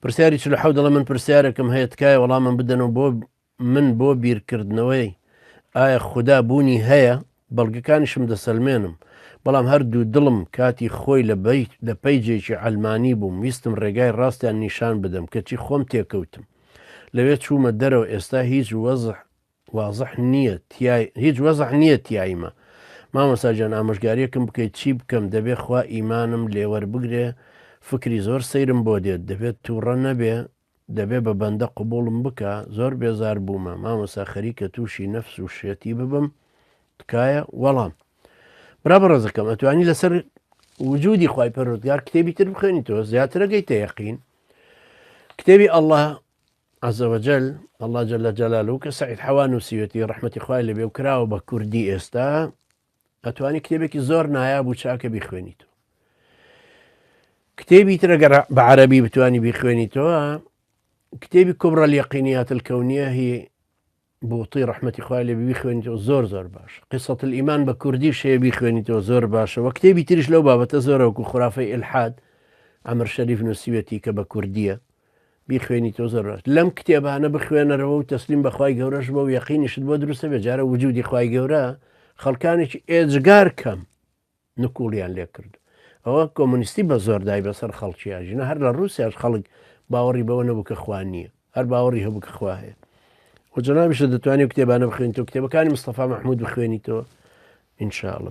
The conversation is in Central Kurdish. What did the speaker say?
پرسیاری چل حەو دەڵێ من پرسیارێکم هەیە تکایە وەڵامم بدەن و بۆ من بۆ بیرکردنەوەی ئایا خودا بوونی هەیە بەڵگەکانیشم دەسەلمێنم بەڵام هەردوو دڵم کاتی خۆی لە بەی لە پەیجێکی ئەلمانی بووم ویستم ڕێگای ڕاستیان نیشان بدەم کەچی خۆم تێکەوتم لەوێ چوومە دەرەوە ئێستا هیچ وەزح وازح نیە تیای هیچ وەزح نیە تیایمە مامۆستا جان ئامۆژگاریەکم بکەیت چی بکەم دەبێ خوا ئیمانم لێوەربگرێ فکری زۆر سەیرم بۆ دێت دەبێت توڕە نەبێ دەبێ بە بەندە قبوڵم بکە زۆر بێزار بوومە مامۆستا خەریکە تووشی نەفس و شێتی ببم تکایە وەڵام برا بەڕێزەکەم ئەتوانی لەسەر وجودی خی پەرۆزگار کتێبی تر بخێنیتەوە زیاترەکەی تەیەقین کتێبی ئەله عز وجل، اللە جل جلالە، کە سەعید حەوا نوسیوێتی ڕەحمەتی خوای لێ بێ و کراوە بە کوردی ئێستا ئەتوانی کتێبێکی زۆر نایاب و چاکە بیخوێنیت و کتێبی ترە گەر بە عەربی بتانی بیخوێنیتەوە کتێبی کوبرە لەقینیات الکەونیە هی بوطی ڕەحمەتی خوای لێ بی بیخوێنیتەوە زۆر زۆر باشە قصە الایمان بە کوردیش هەیە بیخوێنیتەوە زۆر باشە وە کتێبی تریش لەو بابەتە زۆرە وەکو خرافەی الحاد ئەمر شەریف نووسیوێتی کە بە کوردیە بیخوێنیتەوە زۆر باش لەم کتێبانە بخوێنەرەوە و تەسلیم بەخوای گەورەش بە و یەقینیشت بۆ دروستە بێ جارە وجودی خوای گەورە خەڵکانێکی ئێجگار کەم نکوڵیان لێ کرد ئەوە کۆمۆنیستی بە زۆر دای بەسەر خەڵکی ئاژینۆ هەر لە ڕووسیاش خەڵک باوەڕی بەوە نەبوو کە خوا نییە هەر باوەڕی هەبوو کە خوا هەیە و جەنابیشە دەتوانێت کتێبانە بخوێنیتەوە کتێبەکانی مستەفا مەحمود بخوێنیتەوە ئینشاءاللە